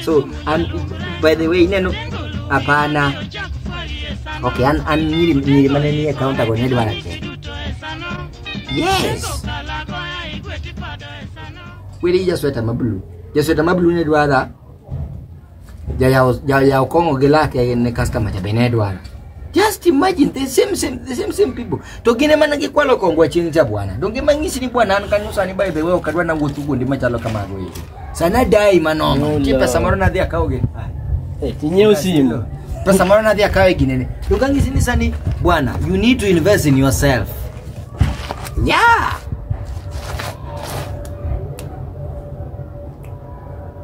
so an, by the way ineno hapana okay an, an nyiri nyiri mane nie kaunta go ne dwara te yes kweli jasweta mablu jasweta mablu ne dwara Jayawo jayawo kong'o gi lake ne customer cha be ne dwaro. Just imagine the same same the same same people. To gin ema ne gikwalo kongwa chieng' cha bwana. Donge mang'isi ni bwana an kanyo sani by the way ok adwa na wuotho kuonde machalo kamago eki. Sana dai manono. No, Chi no. pesa moro nadhi akawo gi. Ah. Eh, tinyiew simu pesa moro nadhi akawe ginene dokang'isi ni sani bwana you need to invest in yourself yeah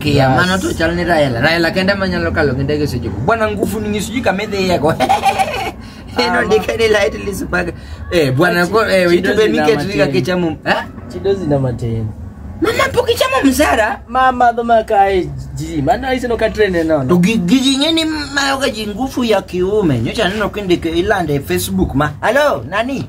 Kia, Bas. mano to chal ni Raila. Raila kende ema nyalo kalo gi ndege seche go. Bwana ngufu ni ng'isuji kama idhiyego. Eno ndike ni light lisbaga. Eh, bwana ko eh, Chido itube zina miket riga matini. kichamo. Eh? Chido zina matini. Mama pok ichamo msara? Mama dho makae ji. Mano iseno ka trend eno. To gi- gigi ng'e ni mayoga ji ngufu ya kiume. Nyocha aneno kindike ilande e Facebook ma. Hello, nani?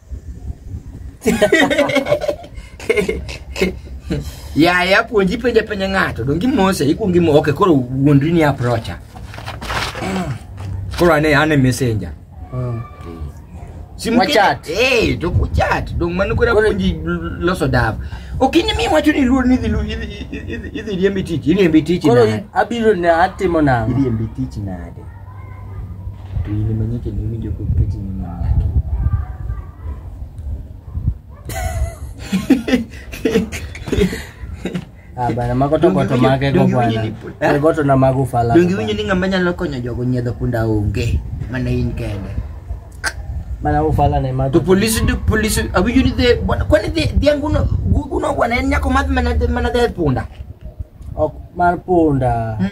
yaya puonji penja penja ng'ato donge imose ikuongo imo ok koro wuondri ni aprocha koro ane ane messenger Wachat. Eh, to kuchat. Dong mano kura Koro- puonji loso dav. Okini mi wacho ni luor ni idhi lu- idhi- idhi- idhi riembi tich, iriembi tich koro nade? abiro ne atimo nang'o Iriembi tich nade? to in ema nyaka ne winjo kok keti ni min nyaki Ah, bana mago to goto mage go Donge bwana. winjo ni- Eh, Goto na mago fala. donge winjo ni ng'ama nyalo konyo jogo nyiedho punda onge mana in kende Bana ufala na mago. to polisi to polisi awinjo ni dhe bwana- kwani dhe- dhiang' uno- uno bwana en nyako madh mana mana dhe punda Ok mar punda. Hmm?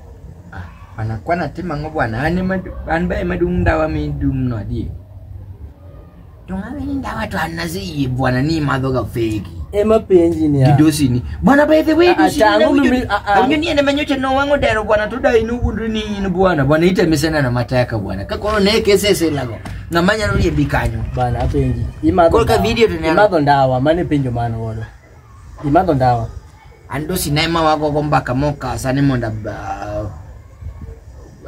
Ah, bana kwana timo ang'o bwana an ema an ba ema dung' ndawa midumno adier to ng'ama ni ndawa to an naseyie bwana ni imadhoga fegi ema penji ni gi dosini bwana by the way Ah, ah, dosini tangu nawinjo mimi- ni- ah, ah. awinjo ni en ema nyocha nowang'o dero bwana to da inowuondri ni in bwana bwana itemesenana mateka bwana ka koro ne keseselago ng'ama nyalo riembi kanyo bana apenji imadho Koro ka ndawa. video to ne- imadho ndawa mane penjo mano godo Imadho ndawa. An to sinema wago go mbaka mokasa ni mondo ab- ah,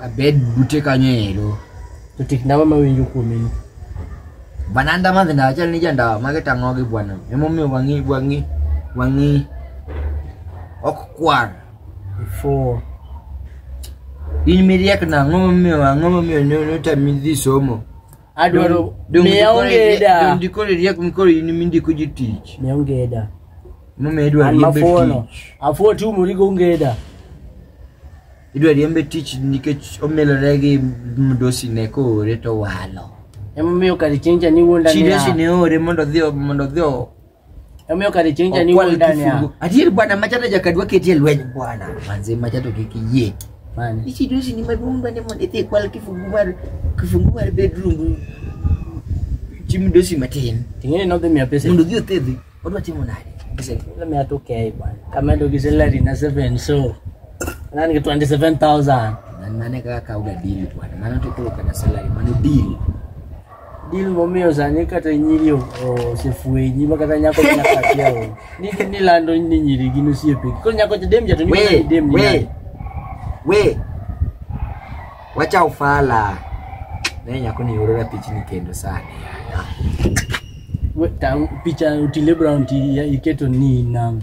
abed bute kanyo ero. To tik ndawa ma winjo kuome ni. Bananda madhi ndawa chal ni jandawa mage tang'ogi bwana. Emomiyo wang'i wang'i wang'i ok kwar. Four. In miriek na ang'o momiyo ang'o momiyo ne ne otami dhi somo? adwaro Dong- miya dong- ongeda dong dikore riek mikoro in mindiko ji tich miya ongeda momiyo idwa an riembe mafuono tich afuo tiumori gi ongeda idwa riembe tich nikech omelore gi mdosi ne koore to walo emomiyo kar chieng'cha niwuonda chidesi ne ore mondo odhi mondo odhi Omiyo kare chieng' cha ni Okwal wuod Dania. kifungu. Adier bwana machata jakadwa ketie lweny bwana. Manze machato kik iyie. Mani. Ichi dosi ni maduong' bende mondo idhi ikwal kifungu mar kifungu mar bedroom. Chim dosi matin. Ting'eni nodhi miya pesa. Mondo odhi othedhi. Odwa timo nade? Pesa. Nodhi miya 2K bwana. Kamedo gi salary na 7 so. Nani ki 27,000. Nan mane kaka kauga deal bwana. Mano to kolo kana salary. Mano deal. Dil momiyo sani kata nyiri o- osefwenyi ma kata nyako nyaka akia o. Ni ni lando ni nyiri gin osiepegi. Koro nyako cha dem jato ni mana we ni dem ni. we nani. we wacha ufala ne nyako ni orora pichni kendo sana We ta picha Otile Brown ti ya- iketo ni nang.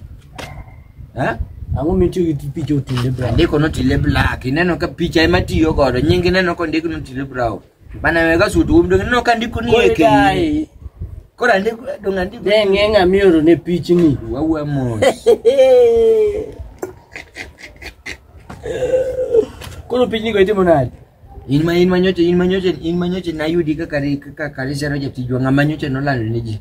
eh Ang'o mitiyo gi picha Otile Brown? andiko notile black ineno ka picha ema tiyo godo nying ineno kondik notile brown Bana wega sutu um dong no kan diku ni Kore eki. dai. Kora ndiku dong andiku. De ng'e ng'a mioro ne pichni. Wawa mo. Koro pichni go itimo nade? In ma in ma nyoche in ma nyoche in ma nyoche na yudi kaka ri- kaka karisero jatijwa ng'ama nyoche nolando ne ji.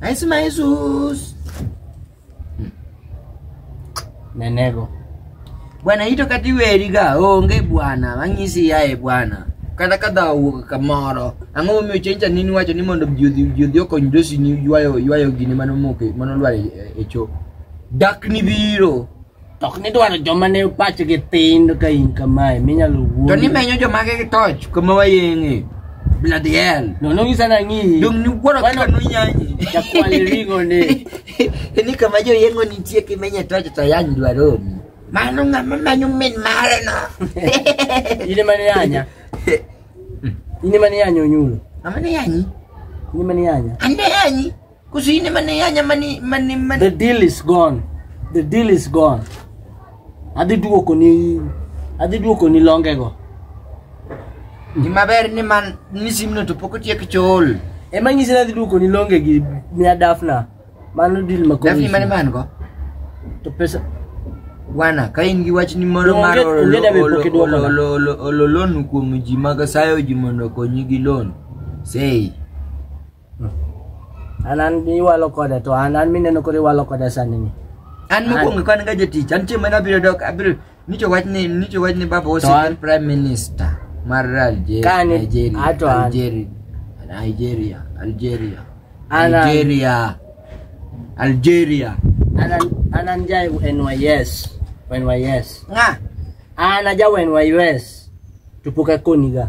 Ay, su madre, sus. Me nego. Bwana ito kati weri ga onge bwana mang'isi yae bwana kata ka dha owuok kamoro ang'o momiyo chencha nini wacho ni mondo juodhi juodhi okony dosi ni ywayo ywayo gini mano moke mano lwar e, e cho dak ni biro To ok nidwaro joma ne pachgi tin ka in kamae minyalo wuoyo. To nimenyo joma gi toch kuma wayeng'e. Bladiel. No no ngisa na ng'i. Dong ni wuoro kaka no nyanyi. Ya kwali ringo ni. Ni kama jo yengo nitie kimenye toch to yany dwaro. Mano ng'ama manyo min mare no. Ine mane yanya. Ine mane yanya onyulo. Ng'ama ne yanyi? Ine mane yanya. Ande yanyi. Kusini man ya nya mani mani mani. The deal is gone. The deal is gone. Adhi duoko ni adhi duoko ni longe go. Ni maber ni man ni simno to pok otiek chol. Ema nyisi ni adhi duoko ni longe gi mia dafna. Mano deal ma kowi. Dafni mane man go? To pesa Bwana, ka in gi wach ni moro No, mar onge- olo- onge dame olo- pok iduoko olo- na. olo- olo- olo loan kuom ji mag sayo ji mondo okonyi gi loan, sei An an iwalo koda to an an mineno koro iwalo koda sani ni. An mokwongo ka an ga jatich, an chieng' mane abiro dok, abiro nicho wach ni nicho wach ni baba ose an prime minister mar Algeria, Nigeria, Algeria, Nigeria, Algeria, Algeria, Algeria. An an an jai NYS, NYS. Nga. An ajawa NYS. Tupuka koniga.